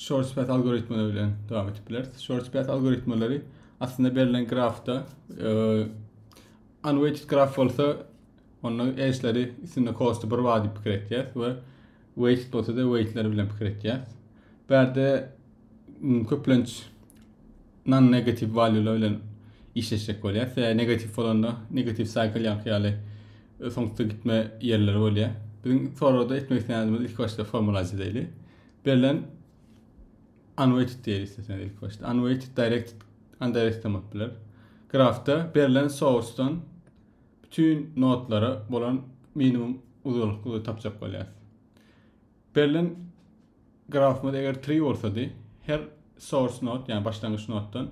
shorts path algoritmalar bilen devam edip bileris. Shorts path algoritmaları aslında berlen grafda e, unweighted graf bolsa onda edge'leri üstünde cost'u bir var diýip pikir etýäs we weighted bolsa da weight'ler bilen pikir etýäs. Bärde köplenç non negative value'lar bilen işleşjek bolýar. Tä negatif bolanda negatif cycle ýaňky ýaly e, soňda gitme ýerleri bolýar. Biziň sorada etmek isleýänimiz ilk başda formulazy diýeli. Berlen unweighted diýeli isteseňiz ilki başda. Unweighted directed undirected hem bolup biler. Grafda berlen source-dan bütün nodlara bolan minimum uzaklygy tapjak bolýar. Berlen grafymyz eger tree bolsady, her source node, ýagny başlangyç noddan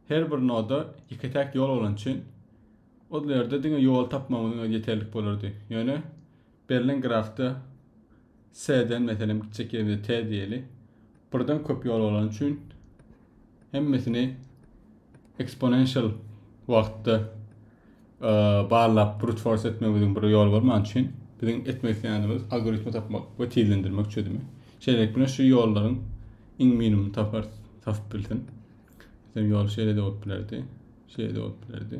her bir noda ýeke-täk ýol bolan üçin ol ýerde diňe ýol tapmagymyzyň özi ýeterlik bolardy. Ýöne Berlen grafda S-den, meselem, gitjek ýerimize T diýeli. Birden köp ýol bolany üçin hemmesini eksponensial wagtda barlap brute force etmegimiziň bir ýoly bolman üçin biziň etmek isleýänimiz algoritmi tapmak we tizlendirmek çözümi. Şeýlelik bilen şu ýollaryň iň minimum tapar tapyp bilsin. Sen ýol şeýle de bolup bilerdi. Şeýle de bolup bilerdi.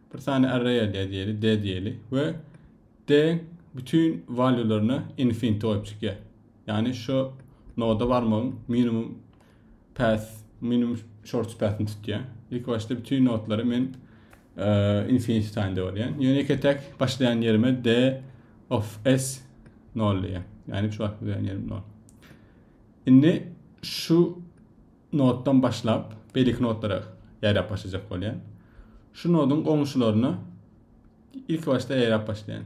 bir sany arraya dezýeli, dezýeli we d bütin valuelaryna infinity goýup çykýar. Ýagny şu noda barmagyň minimum path, minimum shortest path-ni tutýar. Ilk başda bütin nodlary men infinity taýyn döwürýän. Ýöne ýeke tek başlaýan ýerime d of s 0 diýýär. Ýagny şu wagt bilen ýerim 0. Indi şu notdan başlap beýleki notlara ýaýrap başlajak bolýar. Şu noduň goňşularyna ilk başda ýaýrap başlaýan.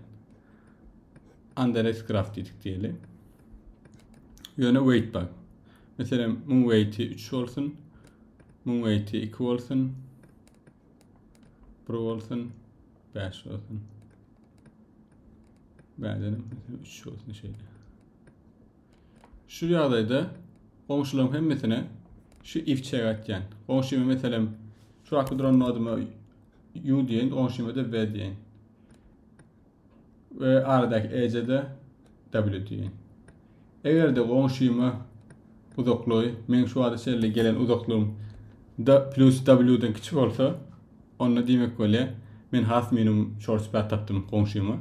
Anderes graf diýdik diýeli. Ýöne weight bak. Meselem, muň weighti 3 bolsun. Muň weighti 2 bolsun. 1 bolsun. 5 bolsun. Bädenim 3 bolsun şeýle. Şu ýagdaýda goňşularyň hemmesine şu if çek atýan. Goňşyma meselem şu wagtky duran nodyma u diýen, goňşyma da v diýen. Ve aradaky ece de w diýen. Eger de goňşyma uzaklygy, men şu wagta çenli gelen uzaklygym da plus w-den kiçi bolsa, onda diýmek bolýar, men has minimum short spat tapdym goňşyma.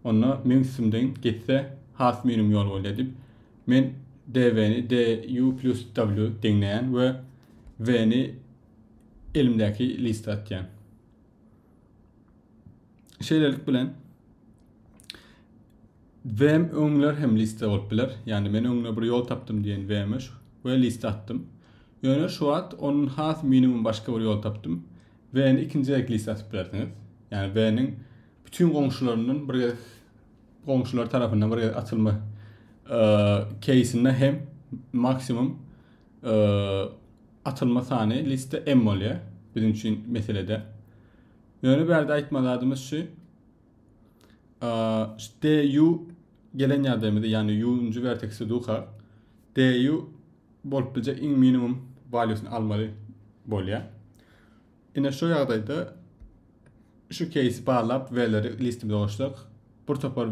Onda meň üstümden geçse, has münim ýol bolýar diýip, men DV-ni DU plus W deňleýän we V-ni elimdäki liste atýan. Şeýlelik bilen Vm öňler hem liste bolup biler. Ýani men öňüne bir ýol tapdym diýen Vm we liste atdym. Ýöne şu wagt onuň has minimum başga bir ýol tapdym. Vn ikinji gezek liste atyp bilersiňiz. Ýani Vn-iň Bütin goňşularyndan bir gezek goňşular tarapyndan bir gezek açylma keýsinde hem maksimum açylma sany liste M bolýar biziň üçin meselede. Ýöne bärde aýtma zadymyz şu DU gelen ýagdaýymyzda, ýagny U-njy verteksi duka DU bolup biljek iň minimum valýusyny almaly bolýar. Ine şu ýagdaýda şu keýsi barlap V-leri listimize goşsak, bir topar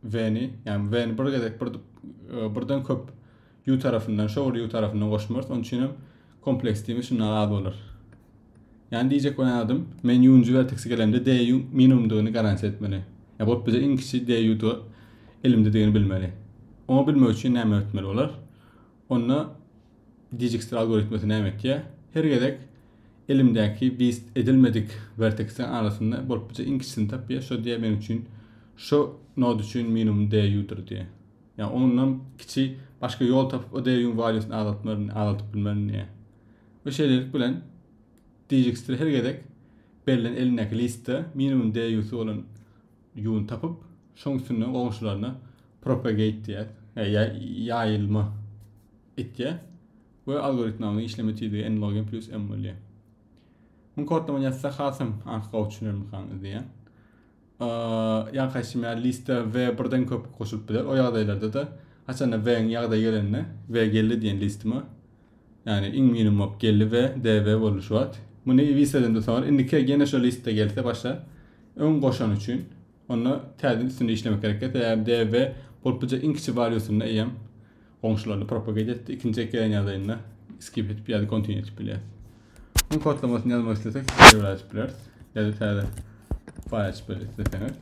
V-ni, ýagny V-ni bir gezek bir e, birden köp U tarafyndan, şowly U tarafyndan goşmarys. Onun üçin hem kompleks diýmek şundan az bolar. Yani diyecek bolan adam men yuncu verteksi gelemde DU minimumdygyny garanti etmeli. Ya bot bize iň kiçi DU-da elimdedigini bilmeli. Onu bilmek üçin näme etmeli bolar? Onda Dijkstra algoritmesi näme etýär? Her gezek elimdäki wist edilmedik werteksiň arasynda bolup biljek iň kiçisini tapýar, şo diýýär meniň üçin şo nod üçin minimum DU-dyr diýýär. Ýa ondan kiçi başga ýol tapyp o DU-nyň valýusyny azaltmaryn, azaldyp bilmerin diýýär. We şeýlelik bilen Dijkstra her gezek berlen elindäki listde minimum DU-sy bolan ýuwun tapyp, şoň üstünde goňşularyna propagate diýýär, ýa ýaýylma etýär we algoritmanyň işleme tizligi n log n plus m bolýar. Muň kodlamany ýazsa hasam anki gowy düşüner mekaň diýýär. Ýa kaýsy meýär liste v birden köp goşulyp biler. O ýagdaýlarda da haçanda v-iň ýagdaýy gelende v geldi diýen listime Yani iň minimum bolup geldi ve DV boldy şu wagt. Muny Visa'dan da sorar. Indiki gene şu liste gelse başa Öň goşany üçin onda täzeden üstünde işlemek gerekdi. Sebäbi DV boluplyja iň kiçi bar ýosunda eýem goňşularyny propagate etdi. Ikinji ek gelen ýagdaýynda skip etip ýa-da continue etip bilýär. Bunun kodlamasyny ýazmak islesek, server açyp bileris. Ýa-da täze fayl açyp bileris isleseňiz.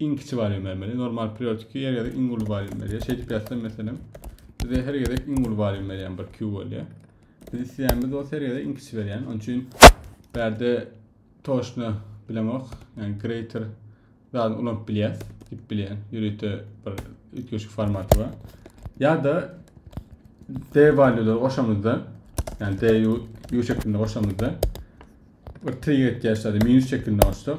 iň kiçi barýan bermeli. Normal periodiki her gezek iň uly barýan berýär. Şeýdip ýazsam meselem, bize her gezek iň uly barýan berýän 1 Q bolýar. Biz isleýänimiz bolsa her gezek iň kiçi berýän. Onun üçin bärde toşna bilemok. Yani greater zaten ulanyp bilýäs, dip bilýän. Ýörite bir üýtgeşik formaty bar. Ya da D valýulary goşamyzda, yani D U şeklinde goşamyzda bir trigger etýäs, minus şeklinde goşsak,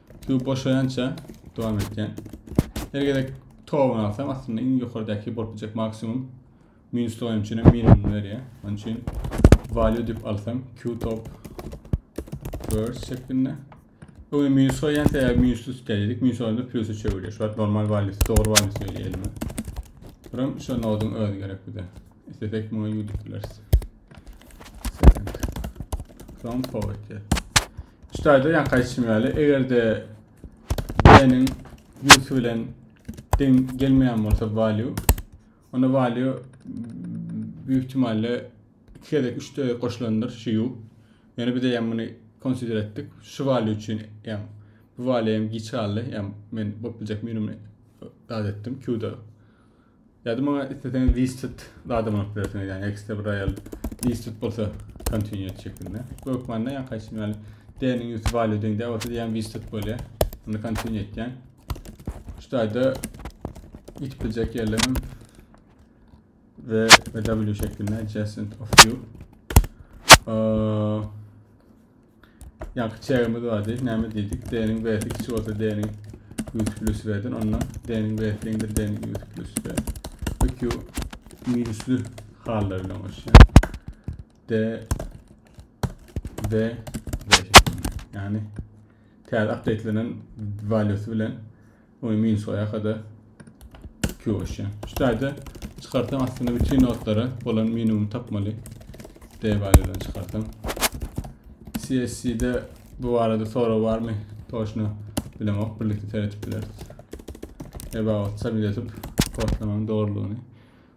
Suw boşaýança dowam etýän. Her gezek towuny alsam aslynda iň ýokardaky bolup biljek maksimum minusly oýun üçin minimum berýär. Onun üçin value dip alsam Q top first şeklinde. Öňe minus goýýan sebäbi minusly tutýardyk. Minus olanda plusy çöwürýär. Şu normal value, dogry value söýýär elime. Buram şu noduň özi gerek bize. Isletek muňa U dip bileris. Second. From forward. Çytaýda ýaňky aýtşym ýaly, eger-de B-niň ýüzsi bilen deň gelmeýän bolsa value, onda value büyük ihtimalle iki gezek, üç gezek goşulandyr şu ýu. Ýöne biz eýýäm muny konsider etdik. Şu value üçin eýýäm bu value hem giç galdy. Eýýäm men bolup biljek minumyny zat etdim Q-da. Ýa-da maňa isleseňiz listed zadam alyp bilersiňiz, ýagny ekstra bir aýal listed bolsa continue et şeklinde. Bu hökmanda ýa haýsy ýaly D-niň ýüzi value deň däl bolsa diýýän listed bolýar. Ony continue etýän. Şu taýda ýitip biljek ýerlerim ve ve W şeklinde adjacent of you. Ee, Ýaňky çägimiz bar diýip näme diýdik? D-niň B-si kiçi bolsa D-niň ýüz plüs B-den, onda D-niň B-si deňdir D-niň ýüz plüs B. Bu Q minusly hallary bilen goşýar. D, B, B şeklinde. Ýagny täze updatelenen valýusy bilen Oý minus oýa kada Q oşya. Şu taýda çykarsam aslynda bütün notlara bolan minimum tapmaly. D valýudan çykarsam. CSC-de bu barada sorag barmy? Toşna bilemok. Birlikde seretip bileris. About sabit edip kodlamanın doğruluğunu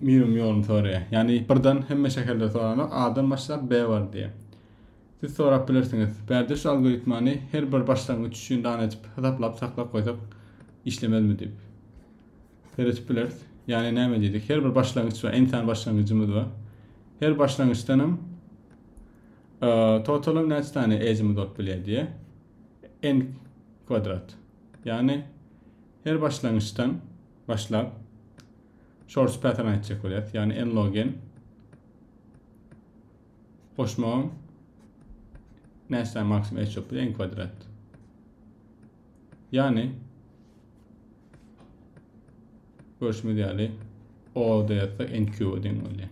Miriň ýoluny soraýar. Ýagny birden hemme şäherleri soranok, A-dan başlap B bar diýýär. Siz sorap bilersiňiz. Bärde şu algoritmany her bir başlangyç üçin dana edip hasaplap saklap goýsak işlemezmi diýip. Seretip bileris. Ýagny näme diýdik? Her bir başlangyç bar, n-sany başlangyjymyz bar. Her başlangyçdanam totalam näçe sany edge-imiz bolup bilýär diýýär. n kwadrat. Ýagny Her başlangyçdan başlap source pattern aýtjak bolýas. Ýagny n-log-n goşmagyň näçe sany maksimum h ýok bilen n kwadrat. Ýagny görüşimiz ýaly o da ýazsa n kübe deň bolýar.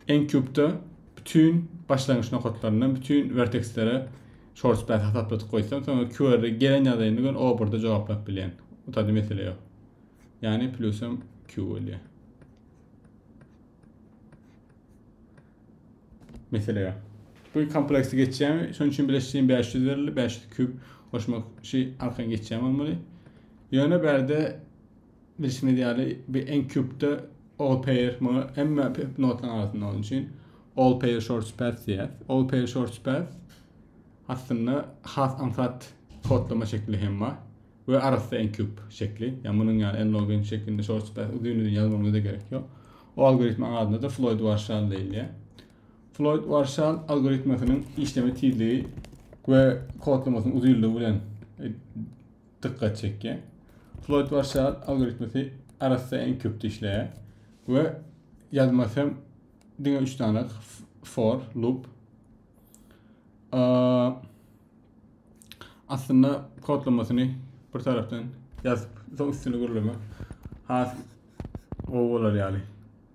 N kübde bütün başlangyç nokatlaryndan bütün vertekslere Çorçpes hasapladyk goýsam soňra QR'i gelen ýagdaýynda gön oburda jogaplap bilýän. Bu taýda mesele ýok. Ýagny plusam Q bolýar. Mesele ýok. Bu kompleksi geçýärmi? Şonuň üçin bileşigiň 500 berildi. 500 kub goşmak şu arkan geçýän bolmaly. Ýöne bärde Bilşimiz ýaly, bu Eng Cube-de All Pair, muňa hemme notalaryň arasynda bolan üçin All Pair Shorts Path diýýär. All Pair Shorts Path aslynda has aňsat kodlama şekli hem bar we arassa Eng Cube şekli. Ýa munuň ýaly N-log-N şeklinde Shorts Path uzyn-uzyn ýazmagyňyza gerek ýok. O algoritmaň adyna-da Floyd-Warshall diýilýär. Floyd-Warshall algoritmasynyň işleme tizligi we kodlamasynyň uzynlygy bilen dykgat çekýär. Floyd-Warshall algoritmisi arassa iň köp dişleýär we ýazmasy hem diňe üç dana for loop. Aslynda kodlamasyny bir tarapdan ýazyp, soň üstüni gürlemek has gowy bolar ýaly.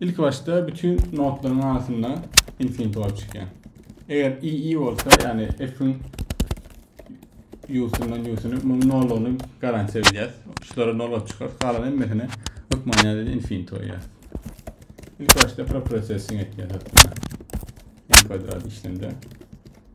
Ilki başda bütün notlaryň arasynda infinity bolup çykýar. Eger i i bolsa, ýagny f-iň ýusundan ýusuny munuň nollugyny garantiýa bilýäs. Şulary nol bolup çykar, galan hemmesini hökmany ýerde infinity goýýas. Ilki başda preprocessing etýäs hatda. N kwadrat işlemde.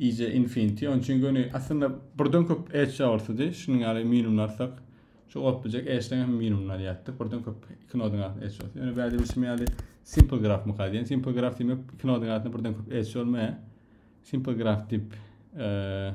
EJ Infinity on üçin göni aslynda birden köp edge ýagyrtydy. Şunuň ýaly minimlarsak, şu goplyjak edge-den hem minimini alýardyk. Birden köp iki nodyň arasynda edge bolsa. Ýöne bäde bilşim ýaly simple graf myka diýen. Simple graf diýmek iki nodyň arasynda birden köp edge bolmaýar. Simple graf dip eee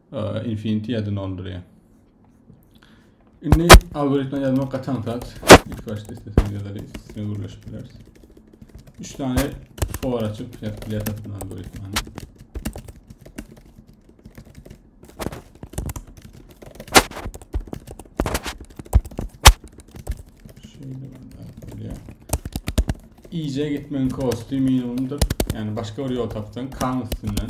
Infinity-ýa dolandyrýar. Indi algoritma ýazmak gaçan saç, ilk başda istesek ýazaly, üstüne gürleşip bileris. Üç tane for açyp ýazyp bileris bu algoritmany. Şeýle gitmegiň kosty minimumdyr. Yani başka bir ýol tapsan, kan üstünden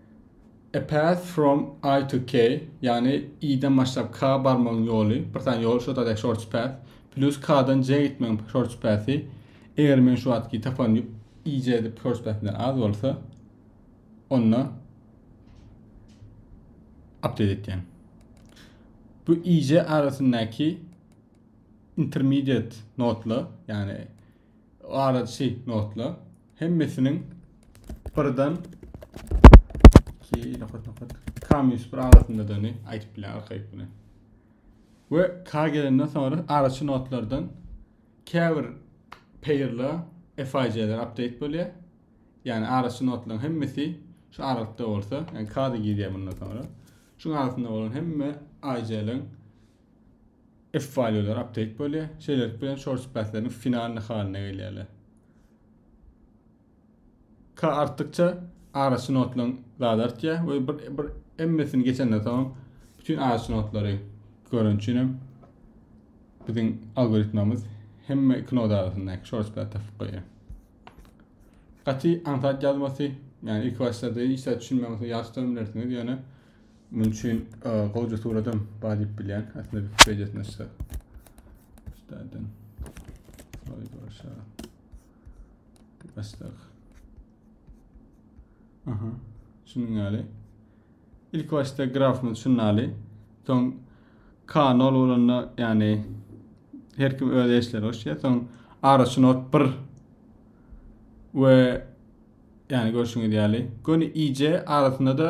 A path from I to K, ýagny I-den başlap K-a barmagyň ýoly, bir sany ýol, şo zat shortest path, plus K-dan J-a gitmegiň shortest path-y, eger men şu wagtky tapan IJ shortest path-imden az bolsa, onda update etýän. Bu IJ arasyndaky intermediate nodla, ýagny araçy nodla. Hemmesiniň birden ki nokat nokat k minus bir arasyndadygyny aýdyp bilen arkaýyk bilen. Ve k gelenden soňra araçy notlardan käbir pairla FIC'ler update bolýar. Yani araçy notlaryň hemmesi şu aralykda bolsa, yani k-da girýär bundan soňra. Şuň arasynda bolan hemme IC'leň F-valýular update bolýar. Şeýlelik bilen short spreadleriň finalny halyna gelýärler. K artdykça araçy notlaryň zady artýar we bir bir hemmesini geçenden soň bütün araçy notlary görün üçin hem biziň algoritmamyz hemme iki nod arasyndaky short spread tapyp goýýar. Gaty aňsat ýazmasy, ýagny ilki başlarda işe düşünmäňizde ýaşdyrym bilersiňiz, ýöne Munuň üçin gowja suradam bar diýip bilýän. Aslynda Wikipediýasyny açsak. Üstadan. Soy başa. Başdak. Aha. Şunuň ýaly. Ilk başda grafymyz şunuň ýaly. Soň kanal bolanda, ýagny her kim öz işleri goşýar. Soň araçyny ot bir we ýagny görşüňiz ýaly. Göni iýje arasynda da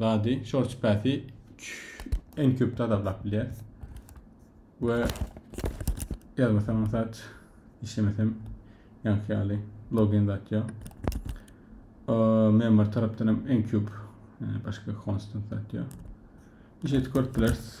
zady short space en köp tazarlap bilýär. We ýazmasam zat işlemesem ýaňky ýaly login zat ýok. Member tarapdan hem en köp yani başka constant zat ýok. Işet görüp bilersiz.